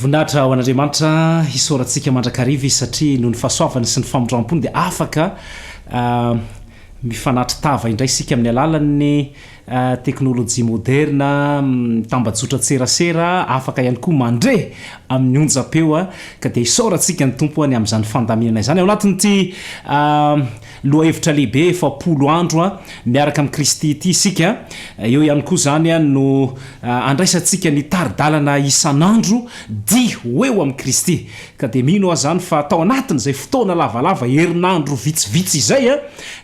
Voninahitra ho an'Andriamanitra hisaorantsika mandrakariva izy satria noho ny fahasoavany sy ny famindram-pony dia afaka mifanatri tava indray isika amin'ny alalan'ny teknolojia moderina, tambajotran-tserasera, afaka ihany koa mandre amin'ny onjam-peo ka dia isaorantsika ny Tompo any amin'izany fandaminana izany ao anatin'ity Lohahevitra lehibe efapolo andro miaraka amin'i Kristy ity isika. Eo ihany koa izany no andraisantsika ny tari-dalana isan'andro, Dia ho eo amin'i Kristy. Ka dia mino aho izany fa tao anatin'izay fotoana lavalava, herinandro vitsivitsy izay,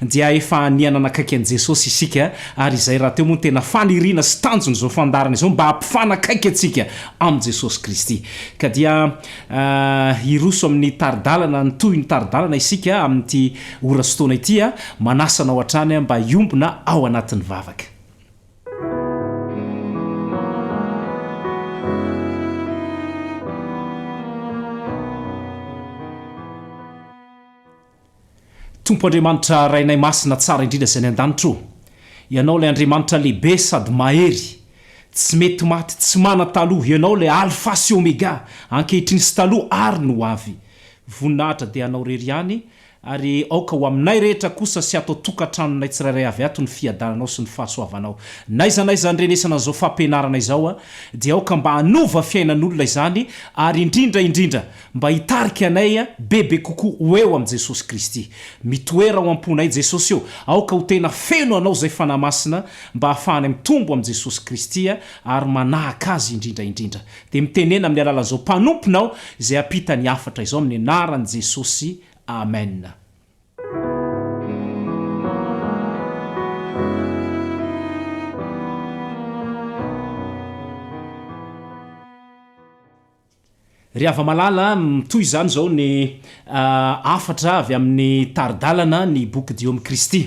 dia efa ania nanakaiky an'i Jesosy isika. Ary izay rahateo moa no tena faniriana sy tanjon'izao fandaharana izao, mba hampifanakaiky antsika amin'i Jesosy Kristy. Ka dia. Hiroso amin'ny tari-dalana ny tohin'ny tari-dalana isika amin'ity ora sy fotoana ity. Manasa anao hatrany mba hiombona ao anatin'ny vavaka. Tompo Andriamanitra Rainay Masina Tsara Indrindra Izay any Andanitra ô! Ianao ilay Andriamanitra Lehibe Sady Mahery, Tsy Mety Maty, Tsy Mana Taloha, Ianao ilay Alfa sy Omega, Ankehitriny sy Taloha ary ny ho avy. Voninahitra dia Anao Irery ihany, ary aoka ho aminay rehetra kosa sy ato an-tokantranonay tsirairay avy ato ny Fiadananao sy ny Fahasoavanao. N'aiza n'aiza andrenesana an'izao fampianarana izao dia aoka mba hanova fiainan'olona izany, ary indrindra indrindra Mba hitarika anay bebe kokoa ho eo amin'i Jesosy Kristy. Mitoera ao am-ponay Jesosy ô! Aoka ho tena feno Anao izay Fanahy Masina mba hahafahanay mitombo amin'i Jesosy Kristy ary manahaka Azy indrindra indrindra. Dia mitenena amin'ny alalan'izao mpanomponao izay hampita ny hafatra izao amin'ny anaran'i Jesosy. Amen. Ry hava-malala, mitohy izany izao ny hafatra avy amin'ny tari-dalana ny boky Diho amin'i Kristy.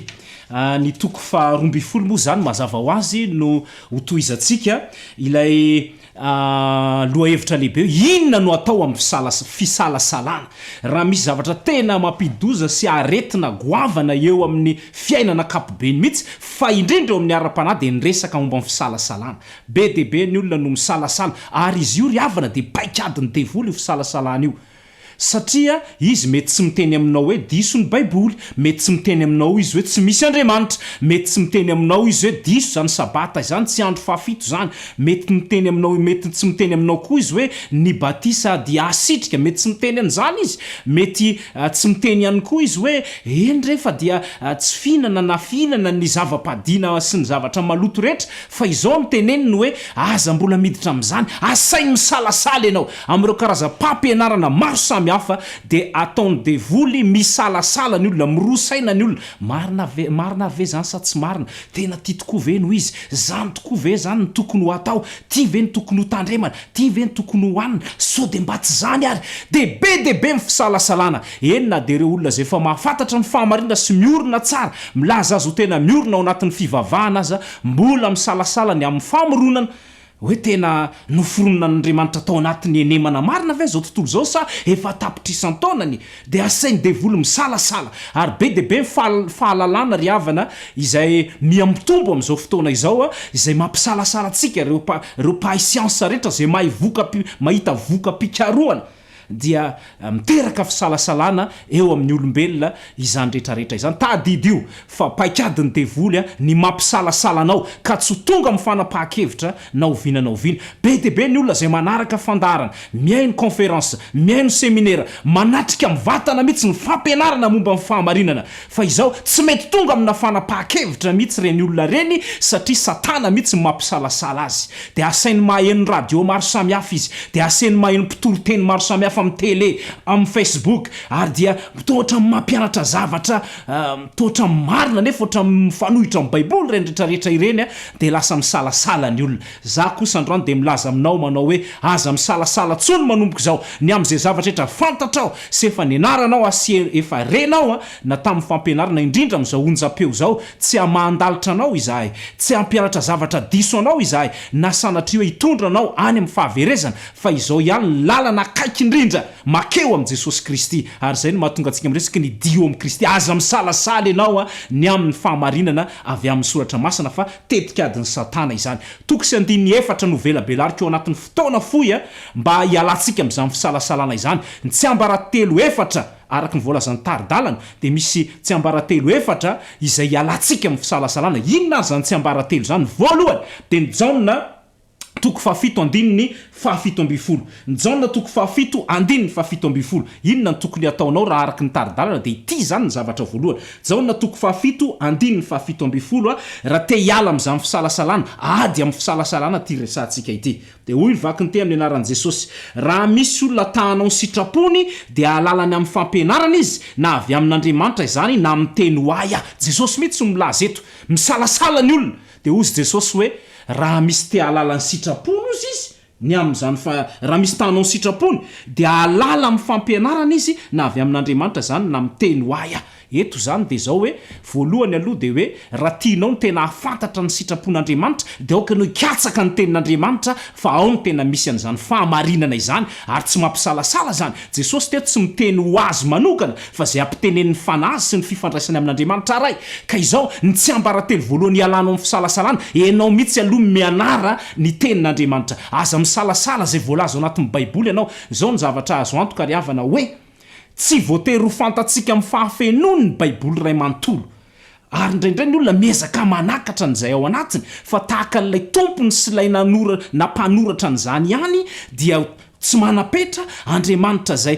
Ny toko faha roa ambin'ny folo moa izany mazava ho azy no ho tohizantsika ilay lohahevitra lehibe hoe inona no atao amin'ny fisalasalana raha misy zavatra tena mampididoza sy aretina goavana eo amin'ny fiainana ankapobeny mihitsy fa indrindra eo amin'ny ara-panahy dia ny resaka momba ny fisalasalana Be dia be ny olona no misalasala ary izy io ry havana dia paikadin'ny devoly io fisalasalana io satria izy mety tsy miteny aminao hoe diso ny baiboly, mety tsy miteny aminao izy hoe tsy misy Andriamanitra, mety tsy miteny aminao izy hoe diso izany sabata izany, tsy andro fahafito izany, mety miteny aminao mety tsy miteny aminao koa izy hoe ny batisa dia hasitrika, mety tsy miteny an'izany izy, mety tsy miteny ihany koa izy hoe eny re fa dia tsy fihinana na fihinana ny zava-padiana sy ny zavatra maloto rehetra Fa izao no teneniny hoe, Aza mbola miditra amin'izany, asainy misalasala ianao. Amin'ireo karazam-pampianarana maro samihafa, dia ataon'ny devoly misalasala ny olona, miroa saina ny olona, marina ve, marina ary ve izany sa tsy marina? Tena tia tokoa ve no izy? Izany tokoa ve izany no tokony ho atao? Ity ve no tokony ho tandremana? Ity ve no tokony ho hanina? Sao dia mba tsy izany ary? Dia be dia be ny fisalasalana. Eny na dia ireo olona izay efa mahafantatra ny fahamarinana sy miorina tsara, milaza azy ho tena miorina ao anatin'ny fivavahana aza, Mbola misalasala ny amin'ny famoronana hoe tena noforoninan'Andriamanitra tao anatin'ny henemana marina ve izao tontolo izao sa efa tapitrisan-taonany? Dia asain'ny devoly misalasala. Ary be dia be ny fahalalana ry havana izay miha mitombo amin'izao fotoana izao izay mampisalasala antsika, ireo mpahay siansa rehetra izay mahay voka-, mahita voka-pikarohana, dia miteraka fisalasalana eo amin'ny olombelona izany rehetrarehetra izany. Tadidio fa paikadin'ny devoly ny mampisalasala anao ka tsy ho tonga amin'ny fanapahan-kevitra na oviana na oviana. Be dia be ny olona izay manaraka fandaharana, mihaino kaonferansa, mihaino seminera, manatrika mivantana mihitsy ny fampianarana momba ny fahamarinana Fa izao, tsy mety tonga amina fanapahan-kevitra mihitsy ireny olona ireny satria Satana mihitsy no mampisalasala azy. Dia asainy maheno radio maro samihafa izy, dia aseny maheno mpitoriteny maro samihafa amin'ny tele, amin'ny Facebook, ary dia toa ohatran'ny mampianatra zavatra toa ohatran'ny marina nefa ohatran'ny mifanohitra amin'ny Baiboly ireny rehetra rehetra ireny, dia lasa misalasala ny olona. Za kosa androany dia milaza aminao manao hoe aza misalasala tsony manomboka izao ny amin'izay zavatra rehetra fantatrao sy efa nianaranao a sy efa renao a na tamin'ny fampianarana indrindra amin'izao onjam-peo izao tsy hamahan-dalitra anao izahay tsy hampianatra zavatra diso anao izahay na sanatria hoe hitondra anao any amin'ny fahaverezana fa izao ihany ny lalana akaiky indrindra makeo amin'i Jesosy Kristy ary izay no mahatonga antsika miresaky ny Dio amin'i Kristy aza misalasala ianao a ny amin'ny fahamarinana avy amin'ny soratra masina fa Tetikadin'i Satana izany. Toko sy andininy efatra no velabelariko ao anatin'ny fotoana fohy mba hialantsika amin'izany fisalasalana izany. Ny tsiambaratelo efatra, araka ny voalazan'ny tari-dalana, dia misy tsiambaratelo efatra izay hialantsika amin'ny fisalasalana. Inona ary izany tsiambaratelo izany? Voalohany, dia ny Jaona. toko fahafito andininy fahafito ambin'ny folo. Jaona toko fahafito andininy fahafito ambin'ny folo. Inona no tokony hataonao raha araka ny tari-dalana dia ity izany ny zavatra voalohany. Jaona toko fahafito andininy fahafito ambin'ny folo, Raha te hiala amin'izany fisalasalana, ady amin'ny fisalasalana ity resahantsika ity. Dia hoy ny vaky ny te amin'ny anaran'i Jesosy, Raha misy olona ta hanao ny sitrapony dia hahalala ny amin'ny fampianarana izy, na avy amin'Andriamanitra izany na amin'ny teny ho ahy aho. Jesosy mihitsy no milaza eto. Misalasala ny olona. Dia hozy Jesosy hoe, Raha misy te hahalala ny sitrapony, hozy izy, ny amin'izany fa, raha misy te hanao ny sitrapony, dia hahalala amin'ny fampianarana izy na avy amin'Andriamanitra izany na miteny ho ahy aho. Eto izany dia izao hoe, voalohany aloha dia hoe, raha tianao ny tena hahafantatra ny sitrapon'Andriamanitra, dia aoka ianao hikatsaka ny tenin'Andriamanitra fa ao no tena misy an'izany fahamarinana izany ary tsy mampisalasala izany, Jesosy teto tsy miteny ho azy manokana fa izay ampitenenin'ny Fanahy Azy sy ny fifandraisany amin'Andriamanitra Ray, ka izao ny tsiambaratelo voalohany hialanao amin'ny fisalasalana, enao mihitsy aloha mianara ny tenin'Andriamanitra, aza misalasala izay voalaza ao anatin'ny baiboly ianao, izao ny zavatra azo antoka ry havana hoe tsy voatery ho fantatsika amin'ny fahafenoany ny baiboly iray manontolo, Ary indraindray ny olona miezaka manakatra an'izay ao anatiny, fa tahaka an'ilay tompony sy ilay nanora na mpanoratra an'izany ihany dia tsy manam-petra, Andriamanitra izay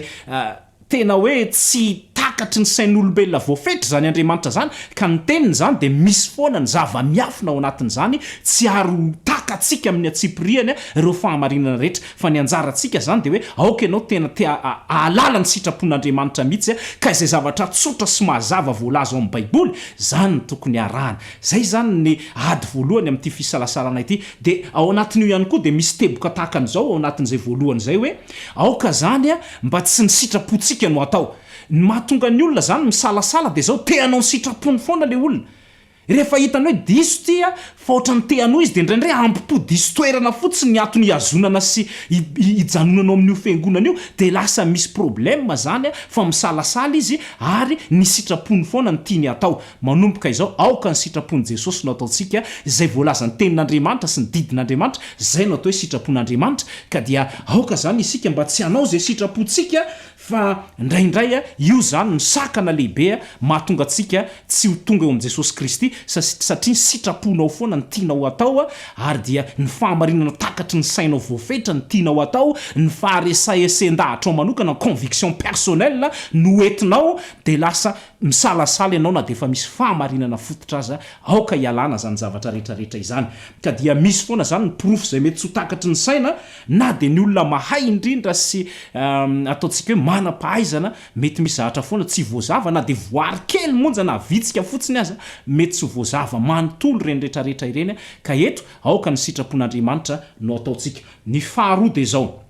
tena hoe tsy takatry ny sain'olombelona voafetra izany Andriamanitra izany, ka ny teniny izany dia misy foana ny zava-miafina ao anatin'izany, tsy ary ho takatsika amin'ny antsipirihany ireo fahamarinana rehetra. Fa ny anjarantsika izany dia hoe aoka ianao tena te hahalala ny sitrapon'Andriamanitra mihitsy ka izay zavatra tsotra sy mazava voalaza ao amin'ny Baiboly, izany no tokony harahana. Izay izany ny ady voalohany amin'ity fisalasalana ity. Dia ao anatin'io ihany koa dia misy teboka tahaka an'izao ao anatin'izay voalohany izay hoe, aoka izany mba tsy ny sitrapontsika no hatao. Ny mahatonga ny olona izany misalasala dia izao, te hanao ny sitrapony foana ilay olona. Rehefa hitany hoe diso ity a, fa ohatran'ny te hanohy izy dia indraindray hampitohy diso toerana fotsiny ny antony ihazonana sy ijanonana ao amin'io fiangonana io dia lasa misy problème zany a, fa misalasala izy ary ny sitrapony foana no tiany hatao. Manomboka izao aoka ny sitrapon'i Jesosy no ataontsika, izay voalazan'ny tenin'Andriamanitra sy ny didin'Andriamanitra, izay no atao hoe sitrapon'Andriamanitra, ka dia aoka izany isika mba tsy hanao izay sitrapontsika Fa ndraindray io izany no sakana lehibe mahatonga antsika tsy ho tonga eo amin'i Jesosy Kristy, satria ny sitraponao foana no tianao hatao, ary dia ny fahamarinana takatry ny sainao voafetra no tianao hatao, ny faharesahesen-dahatrao manokana, ny conviction personnelle no ho entinao, dia lasa misalasala ianao na dia efa misy fahamarinana fototra aza, aoka hialana izany zavatra rehetra rehetra izany, ka dia misy foana izany ny porofo izay mety tsy ho takatry ny saina, Na dia ny olona mahay indrindra sy ataontsika hoe manam-pahaizana, mety misy zavatra foana tsy voazava, na dia voary kely monja na vitsika fotsiny aza, mety tsy ho voazava manontolo ireny rehetrarehetra ireny, ka eto aoka ny sitrapon'Andriamanitra no ataontsika. Ny faharoa dia izao,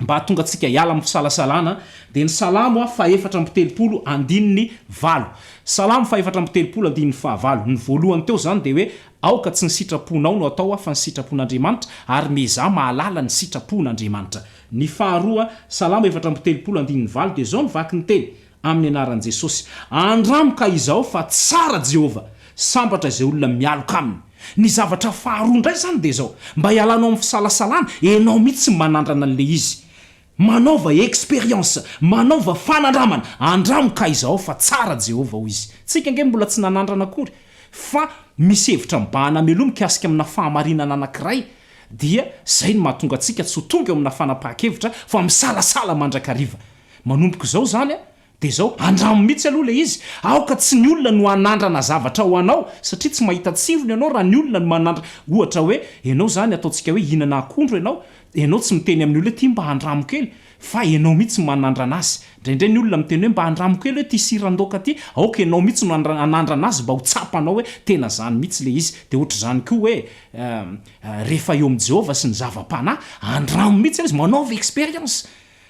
mba hahatonga antsika hiala amin'ny fisalasalana, dia ny Salamo fahefatra amby telopolo andininy valo. Salamo fahefatra amby telopolo andininy fahavalo, ny voalohany teo izany dia hoe, Aoka tsy ny sitraponao no atao fa ny sitrapon'Andriamanitra, ary miezaha mahalala ny sitrapon'Andriamanitra. Ny faharoa, Salamo efatra amby telopolo andininy valo dia izao no vaky ny teny, Amin'ny anaran'i Jesosy. Andramo ka izao fa tsara Jehovah. Sambatra izay olona mialoka aminy. Ny zavatra faharoa indray izany dia izao, mba hialanao amin'ny fisalasalana, ianao mihitsy manandrana an'ilay izy. Manaova expérience, manaova fanandramana, andramo ka aiza ao fa tsara Jehovah hoy izy. Tsika ange mbola tsy nanandrana akory fa misy hevitra mibahana mialoha mikasika amina fahamarinana anankiray dia zay no mahatonga antsika tsy ho tonga eo amina fanapahan-kevitra fa misalasala mandrakariva. Manomboka izao izany Dia izao, andramo mihitsy aloha ilay izy, aoka tsy ny olona no hanandrana zavatra ho anao, satria tsy mahita tsirony ianao raha ny olona no manandra, ohatra hoe, ianao izany ataontsika hoe hihinana akondro ianao, dia ianao tsy miteny amin'ny olona hoe ity mba andramo kely, fa ianao mihitsy no manandrana azy. Indraindray ny olona miteny hoe mba andramo kely hoe ity siran-daoka ity, aoka ianao mihitsy no hanandrana azy mba ho tsapanao hoe tena izany mihitsy ilay izy. Dia ohatr'izany koa hoe rehefa eo amin'i Jehovah sy ny zava-panahy, andramo mihitsy ilay izy, manaova expérience.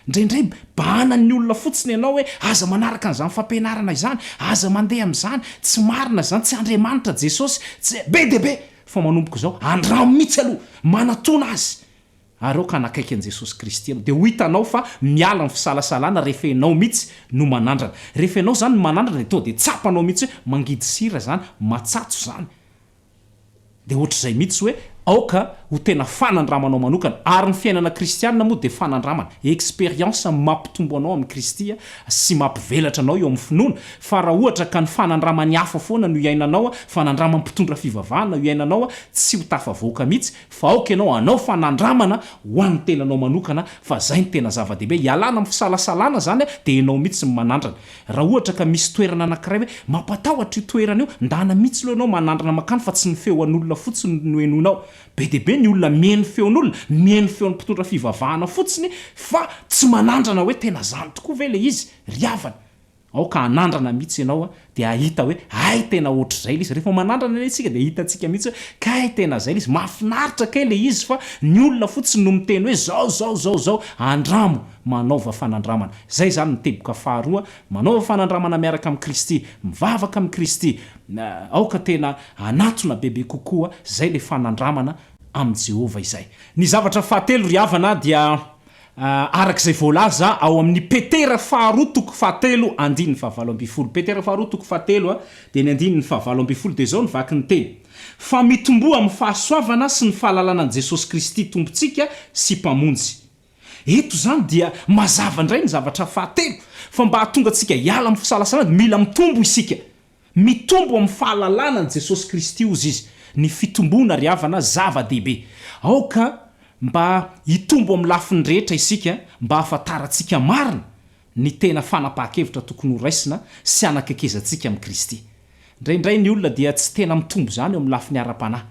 Indraindray bahana ny olona fotsiny ianao hoe aza manaraka an'izany fampianarana izany, aza mandeha amin'izany, tsy marina izany, tsy Andriamanitra Jesosy, tsy Be dia be! Fa manomboka izao, andramo mihitsy aloha, manatona Azy, ary aoka hanakaiky an'i Jesosy Kristy ianao, dia ho hitanao fa miala ny fisalasalana rehefa ianao mihitsy no manandrana. Rehefa ianao izany no manandrana dia tonga dia tsapanao mihitsy hoe mangidy sira izany, matsatso izany. dia ohatr'izay mihitsy hoe aoka ho tena fanandramanao manokana. Ary ny fiainana kristiana moa dia fanandramana, expérience mampitombo anao amin'i Kristy sy mampivelatra anao eo amin'ny finoana. Fa raha ohatra ka ny fanandraman'ny hafa foana no iainanao, fanandramam-pitondra fivavahana no iainanao, tsy ho tafavoaka mihitsy. Fa aoka ianao hanao fanandramana ho an'ny tenanao manokana fa izay no tena zava-dehibe. Ialana amin'ny fisalasalana izany dia ianao mihitsy no manandrana. Raha ohatra ka misy toerana anankiray hoe mampatahotra io toerana io, ndana mitsy lo enao manandrana makany fa tsy ny feo an'olona fotsiny no enonao. Be dia be ny olona mieno feon'olona, mieno feon'ny mpitondra fivavahana fotsiny fa tsy manandrana hoe tena zany tokoa ve le izy ry havana. Aoka hanandrana mitsy enao dia hahita hoe hay tena otrzay le izy. Rehefa manandrana anie tsika dia hitantsika mitsy hoe kay tena zay le izy. Mafinaritra kay le izy fa ny olona fotsiny no miteny hoe zao zao zao zao. Andramo. Manaova fanandramana. Izay izany ny teboka faharoa, manaova fanandramana miaraka amin'i Kristy, mivavaka amin'i Kristy. Aoka tena hanatona bebe kokoa izay ilay fanandramana amin'i Jehovah izay. Ny zavatra fahatelo, ry havana, dia araka izay voalaza ao amin'ny Petera faharoa toko fahatelo andininy fahavalo ambin'ny folo. Petera faharoa toko fahatelo, dia ny andininy fahavalo ambin'ny folo, dia izao ny vaky ny teny, Fa mitomboa amin'ny fahasoavana sy ny fahalalana an'i Jesosy Kristy Tompontsika sy Mpamonjy. Eto izany dia mazava indray ny zavatra fahatelo, fa mba hahatonga antsika hiala amin'ny fisalasalana dia mila mitombo isika. Mitombo amin'ny fahalalana an'i Jesosy Kristy, hozy izy, ny fitomboana ry havana zava-dehibe. Aoka mba hitombo amin'ny lafiny rehetra isika mba hahafantarantsika marina ny tena fanapahan-kevitra tokony horaisina sy hanakekezantsika amin'i Kristy. Indraindray ny olona dia tsy tena mitombo izany eo amin'ny lafiny ara-panahy.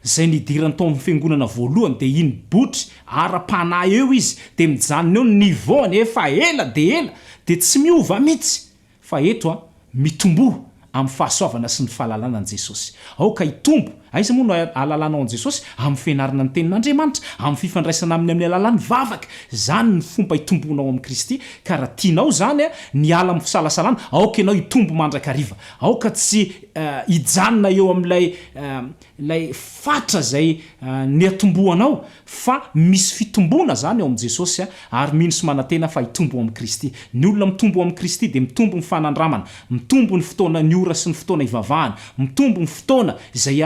Izay nidirany tao amin'ny fiangonana voalohany dia iny botry ara-panahy eo izy dia mijanona eo ny niveau any efa ela dia ela dia tsy miova mitsy fa eto an mitomboa amin'ny fahasoavana sy ny fahalalana an'i Jesosy aoka hitombo aiza moa no ahalalanao an'i Jesosy amin'ny fianarana ny tenin'Andriamanitra amin'ny fifandraisana aminy amin'ny alalan'ny vavaka izany no fomba hitomboanao amin'i Kristy ka raha tianao izany an ny hiala amin'ny fisalasalana aoka ianao hitombo mandrakariva Aoka tsy hijanona eo amin'ilay ilay fatra izay niatombohanao fa misy fitomboana izany ao amin'i Jesosy ary mino sy manantena fa hitombo ao amin'i Kristy. Ny olona mitombo ao amin'i Kristy dia mitombo ny fanandramana, mitombo ny fotoana, ny ora sy ny fotoana hivavahana, mitombo ny fotoana izay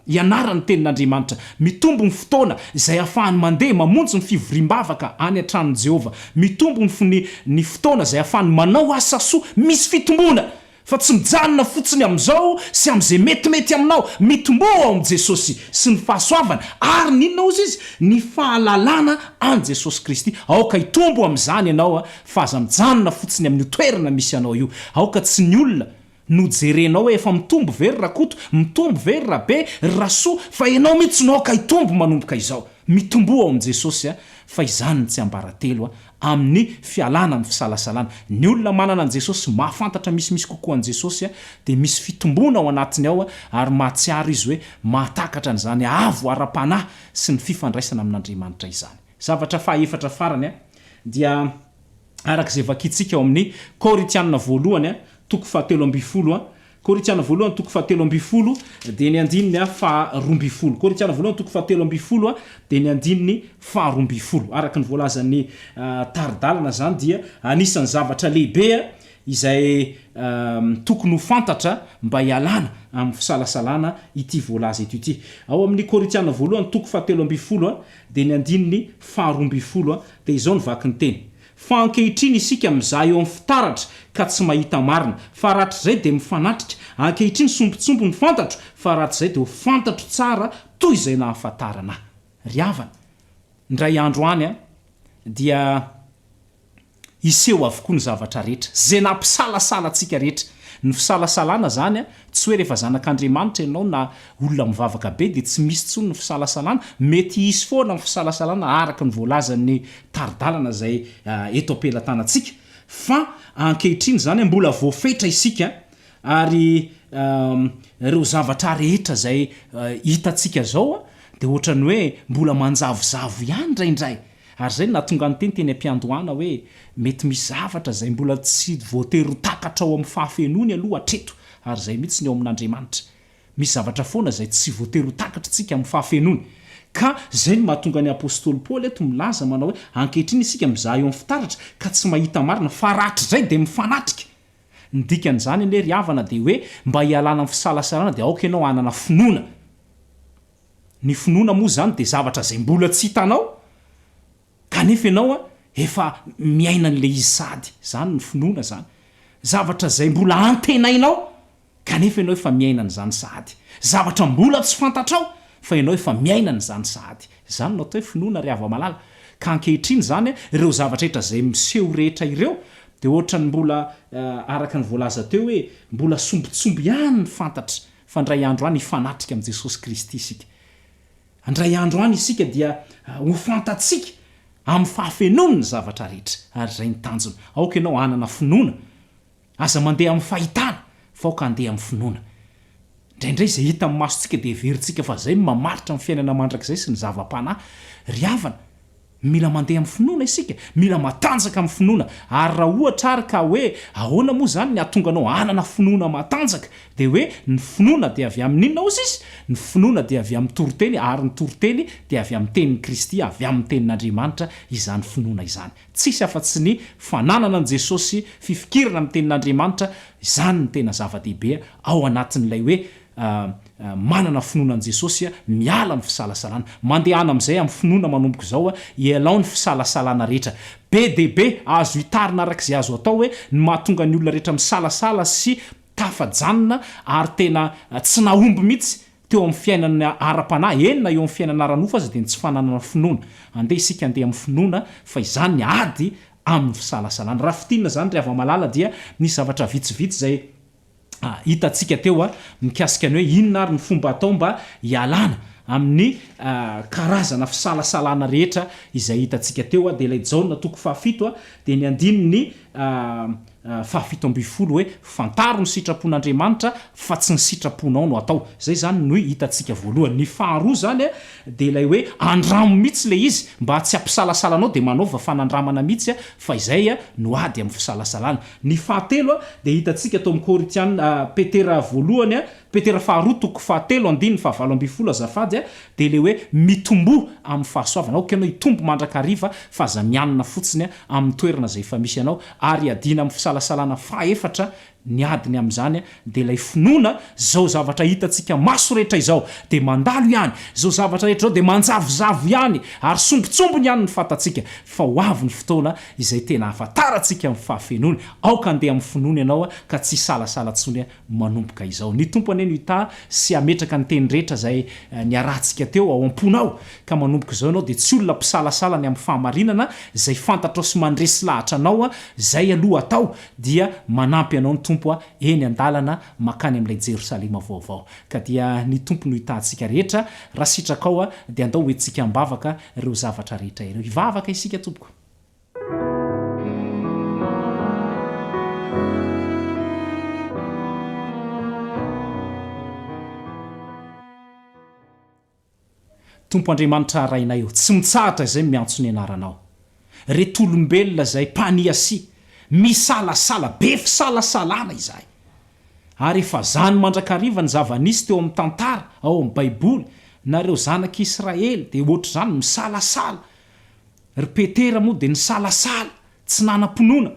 Ianara ny Tenin'Andriamanitra. Mitombo ny fotoana izay ahafahany mandeha mamonjy ny fivoriam-bavaka any an-tranon'i Jehovah. Mitombo ny fo-ny ny fotoana izay ahafahany manao asa soa misy fitomboana, fa tsy mijanona fotsiny amin'izao sy amin'izay metimety aminao. Mitomboa ao amin'i Jesosy sy ny fahasoavany, ary ny inona hozy izy? Ny fahalalana an'i Jesosy Kristy. Aoka hitombo amin'izany ianao, fa aza mijanona fotsiny amin'io toerana misy anao io. Aoka tsy ny olona Nojerenao hoe efa mitombo ve ry Rakoto, mitombo ve ry Rabe, ry Rasoa fa enao mitsy no aoka hitombo manomboka izao. Mitomboa ao amin'i Jesosy a, fa izany no tsiambaratelo a, amin'ny fialana amin'ny fisalasalana. Ny olona manana an'i Jesosy, mahafantatra misimisy kokoa an'i Jesosy a, dia misy fitomboana ao anatiny ao a, ary mahatsiaro izy hoe mahatakatra an'izany avo ara-panahy sy ny fifandraisana amin'Andriamanitra izany. Zavatra faha efatra farany a, dia. araka izay vakintsika ao amin'ny Korintiana voalohany, toko fahatelo ambin'ny folo, Korintiana voalohany, toko fahatelo ambin'ny folo, dia ny andininy faharoa ambin'ny folo. Korintiana voalohany, toko fahatelo ambin'ny folo, dia ny andininy faharoa ambin'ny folo. Araka ny voalazan'ny tari-dalana izany dia anisan'ny zavatra lehibe izay tokony ho fantatra mba hialana amin'ny fisalasalana ity voalaza eto ity. Ao amin'ny Korintiana voalohany, toko fahatelo ambin'ny folo, Dia ny andininy faharoa ambin'ny folo dia izao no vaky ny teny, Fa ankehitriny isika mizaha eo amin'ny fitaratra ka tsy mahita marina, fa rahatrizay dia mifanatrika, ankehitriny sombintsombiny ny fantatro, fa rahatrizay dia ho fantatro tsara toy izay nahafantarana ahy. Ry havana, indray andro any dia. Hiseho avokoa ny zavatra rehetra, izay nampisalasala antsika rehetra. Ny fisalasalana izany, tsy hoe rehefa zanak'Andriamanitra ianao na olona mivavaka be dia tsy misy intsony ny fisalasalana, mety hisy foana ny fisalasalana araka ny voalazan'ny tari-dalana izay eto am-pelatanantsika, fa ankehitriny izany mbola voafetra isika ary ireo zavatra rehetra izay hitantsika izao dia ohatran'ny hoe mbola manjavozavo ihany indraindray. Ary izay no nahatonga niteny teny am-piandohana hoe mety misy zavatra izay mbola tsy voatery ho takatra ao amin'ny fahafenoany aloha hatreto, ary izay mihitsy ny ao amin'Andriamanitra. Misy zavatra foana izay tsy voatery ho takatr'isika amin'ny fahafenoany. Ka izay no mahatonga ny apostoly Paoly eto milaza manao hoe ankehitriny isika mizaha eo amin'ny fitaratra ka tsy mahita marina, fa rahatrizay dia mifanatrika. Ny dikan'izany anie ry havana dia hoe mba hialana amin'ny fisalasalana dia aoka ianao hanana finoana. Ny finoana moa izany dia zavatra izay mbola tsy hitanao kanefa ianao efa miaina an'ilay izy sady, izany no finoana izany, zavatra izay mbola antenainao kanefa ianao efa miaina an'izany sahady, zavatra mbola tsy fantatrao fa ianao efa miaina an'izany sahady, izany no atao hoe finoana ry hava-malala, ka ankehitriny izany ireo zavatra rehetra izay miseho rehetra ireo dia ohatran'ny mbola araka ny voalaza teo hoe mbola sombitsomby ihany ny fantatra, Fa handray andro any hifanatrika amin'i Jesosy Kristy isika. Handray andro any isika dia ho fantatsika amin'ny fahafenoany ny zavatra rehetra, ary izay ny tanjona. Aoka ianao hanana finoana. Aza mandeha amin'ny fahitana, fa aoka handeha amin'ny finoana. Indraindray izay hita amin'ny masontsika dia heverintsika fa izay no mamaritra ny fiainana mandrakizay sy ny zava-panahy. Ry havana, Mila mandeha amin'ny finoana isika, mila matanjaka amin'ny finoana. Ary raha ohatra ary ka hoe ahoana moa izany ny hahatonga anao hanana finoana matanjaka? Dia hoe ny finoana dia avy amin'inona hozy izy? Ny finoana dia avy amin'ny toriteny ary ny toriteny dia avy amin'ny tenin'i Kristy, avy amin'ny tenin'Andriamanitra izany finoana izany. Tsisy afa-tsy ny fananana an'i Jesosy sy fifikirana amin'ny tenin'Andriamanitra izany no tena zava-dehibe ao anatin'ilay hoe manana finoana an'i Jesosy, miala amin'ny fisalasalana. Mandehana amin'izay amin'ny finoana manomboka izao, ialao ny fisalasalana rehetra. Be dia be, azo itarina araka izay azo atao hoe ny mahatonga ny olona rehetra misalasala sy tafajanona ary tena tsy nahomby mihitsy teo amin'ny fiainana ara-panahy, eny na eo amin'ny fiainana ara-nofo aza dia ny tsy fananana finoana. Andeha isika handeha amin'ny finoana fa izany ny ady amin'ny fisalasalana. Raha fintinina izany ry hava-malala dia misy zavatra vitsivitsy izay hitantsika teo mikasika ny hoe inona ary ny fomba atao mba hialana amin'ny karazana fisalasalana rehetra izay hitantsika teo, dia ilay Jaona toko fahafito dia ny andininy fahafito ambin'ny folo hoe fantaro ny sitrapon'Andriamanitra fa tsy ny sitraponao no atao, izay izany no hitantsika voalohany. Ny faharoa izany dia ilay hoe andramo mihitsy ilay izy mba tsy hampisalasala anao dia manaova fanandramana mihitsy fa izay no ady amin'ny fisalasalana. Ny fahatelo dia hitantsika tao amin'ny Korintiana, Petera voalohany, Petera faharoa toko fahatelo andininy fahavalo ambin'ny folo azafady, dia ilay hoe mitomboa amin'ny fahasoavana, aoka ianao hitombo mandrakariva fa aza mianina fotsiny amin'ny toerana izay efa misy anao, ary iadiana amin'ny fisalasalana, fahaefatra ny adiny amin'izany Dia ilay finoana, izao zavatra hitantsika maso rehetra izao dia mandalo ihany, izao zavatra rehetra izao dia manjavozavo ihany ary sombintsombiny ihany ny fantatsika, fa ho avy ny fotoana izay tena hahafantarantsika ny fahafenoany, aoka handeha amin'ny finoana ianao ka tsy hisalasala intsony manomboka izao. Ny Tompo anie no hitaha sy hametraka ny teny rehetra izay niarahantsika teo ao am-ponao, ka manomboka izao ianao dia tsy olona mpisalasala ny amin'ny fahamarinana, izay fantatrao sy mandresy lahatra anao, izay aloha atao Dia manampy anao ny Tompo a, eny an-dalana makany amin'ilay Jerosalema vaovao. Ka dia ny Tompo no hitahantsika rehetra, raha sitrakao a, dia andao ho entintsika am-bavaka ireo zavatra rehetra ireo. Hivavaka isika tompoko. Tompo Andriamanitra Rainay ô, tsy mitsahatra izay miantso ny anaranao. Reto olombelona izay mpania sy misalasala, be fisalasalana izahay. Ary efa zany mandrakariva ny zava-nisy teo amin'ny tantara ao amin'ny baiboly, nareo zanak'i Israely dia ohatr'izany misalasala. Ry Petera moa dia nisalasala, tsy nanam-pinoana.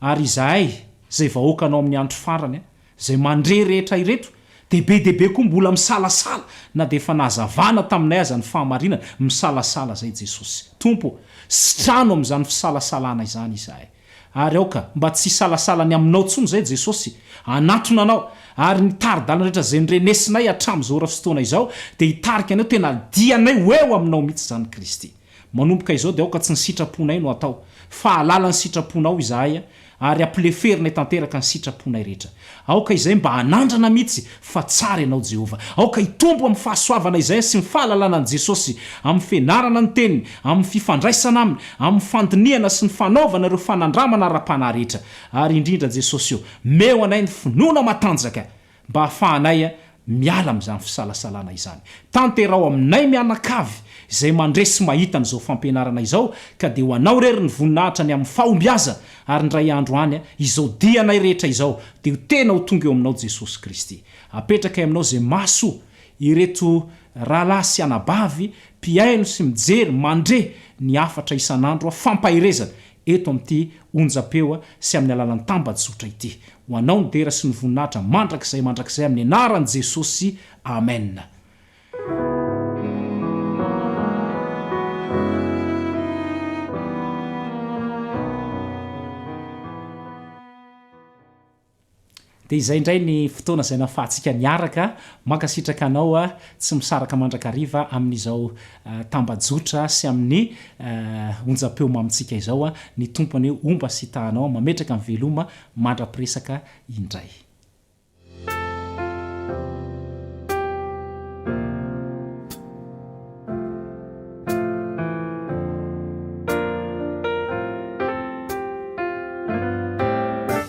Ary izahay, izay vahoakanao amin'ny andro farany, izay mandre rehetra ireto, dia be dia be koa mbola misalasala, na dia efa nahazavana taminay aza ny fahamarinana, misalasala izay Jesosy. Tompo ô, sitrano amin'izany fisalasalana izany izahay. Ary aoka mba tsy hisalasala ny Aminao intsony izay Jesosy, hanatona Anao, ary ny tari-dalana rehetra izay norenesinay hatramin'izao ora sy fotoana izao, dia hitarika anay ho tena dianay ho eo Aminao mihitsy izany Kristy. Manomboka izao dia aoka tsy ny sitraponay no atao, fa halala ny sitraponao izahay, ary hampileferinay tanteraka ny sitraponay rehetra. Aoka izahay mba hanandrana mihitsy fa tsara ianao Jehovah. Aoka hitombo amin'ny fahasoavana izahay sy ny fahalalana an'i Jesosy, amin'ny fianarana ny Teniny, amin'ny fifandraisana Aminy, amin'ny fandinihana sy ny fanaovana ireo fanandramana ara-panahy rehetra. Ary indrindra Jesosy ô, meo anay ny finoana matanjaka mba hahafahanay miala amin'izany fisalasalana izany. Tanteraho aminay mianakavy izay mandre sy mahita an'izao fampianarana izao, ka dia ho Anao irery ny voninahitra ny amin'ny fahombiaza, ary indray andro any, izao dianay rehetra izao dia ho tena ho tonga eo Aminao Jesosy Kristy. Apetrakay Aminao izay maso ireto rahalahy sy anabavy mpihaino sy mijery, mandre, ny hafatra isan'andro, fampaherezana, eto amin'ity onjam-peo sy amin'ny alalan'ny tambajotra ity. Ho anao ny dera sy ny voninahitra mandrakizay mandrakizay amin'ny anaran'i Jesosy. Amen. Dia izay indray ny fotoana izay nahafahantsika niaraka. Mankasitraka anao tsy misaraka mandrakariva amin'izao tambajotra sy amin'ny onjam-peo mamintsika izao. Ny Tompo anie homba sy hitaha anao, mametraka ny veloma mandra-piresaka indray.